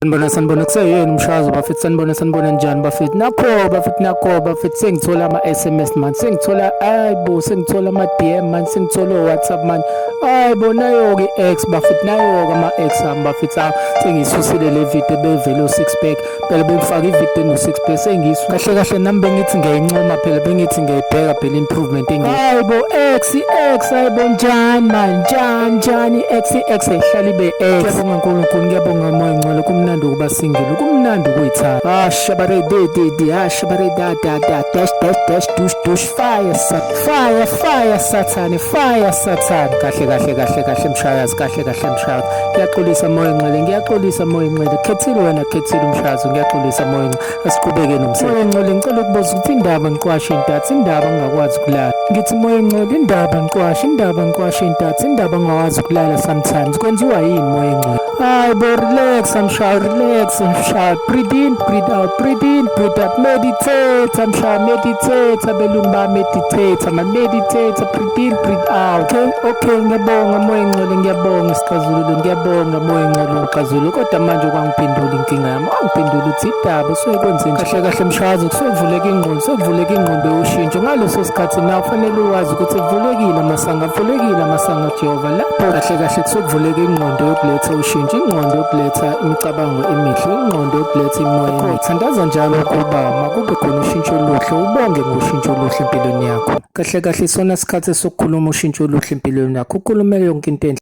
sanibona sanibona kuseyini mshazo bafethu sanibona sanibona njani bafethu nakho bafethu nakho bafethu sengithola ama-sms man sengithola ayi bo sengithola ama-dm man sengithola o-whatsapp man ayi bo nayo-ke i-x bafethu nayo-ke ama-x ami bafethu awo sengiyisusile le video bevele u-six pack phela bengifake ivideo eno-six pack sengiyisu kahle kahle nami bengithi ngiyayincoma phela bengithi ngiyayibheka phela improvement engi ayi bo x i-x ayi bo njani man njani njani i-x i-x ehlala ibe-x ngiyabonga nkulunkulu ngiyabonga Moya ngcwele kumnandi ukuba single kumnandi ukuyithanda ah shabare de de de ah shabare da da da dash dash dash dush dush fire sat fire fire sathane fire sathane kahle kahle kahle kahle mshayazi kahle kahle mshayazi ngiyaxolisa moya ngcwele ngiyaxolisa moya ngcwele khethile wena khethile umshayazi ngiyaxolisa moya ngcwele asiqhubeke nomsebenzi moya ngcwele ngicela ukubuza ukuthi indaba ngiqwashe intatha indaba ngingakwazi ukulala ngithi moya ngcwele indaba ngiqwashe indaba ngiqwashe intatha indaba ngingakwazi ukulala sometimes kwenziwa yini moya ngcwele Hi, boy, relax and shy, relax and shy. Breathe in, breathe out, breathe in, breathe out. Meditate and shy, meditate. Abelumba meditate, ama meditate. Breathe in, breathe out. Okay, okay, ngiyabonga moya ngcwele, ngiyabonga sixazululo, ngiyabonga moya ngcwele uxazululo. Kodwa manje kwangiphendula inkinga yami. Wangiphendula uthi idaba usuke kwenze nje. Kahle kahle mshazi, kusevuleka ingqondo, sevuleka ingqondo yoshintsho. Ngaleso sikhathi na ufanele uwazi ukuthi evulekile amasanga, avulekile amasanga Jehova. Lapho kahle kahle kusevuleka ingqondo. ingqondo yokuletha ushintsho ingqondo yokuletha imicabango emihle ingqondo yokuletha imoya emihle thandaza njalo ukuba makube khona ushintsho oluhle ubonge ngoshintsho oluhle empilweni yakho kahle kahle isona sikhathi sokukhuluma ushintsho oluhle empilweni yakho ukhulumele yonke into enhle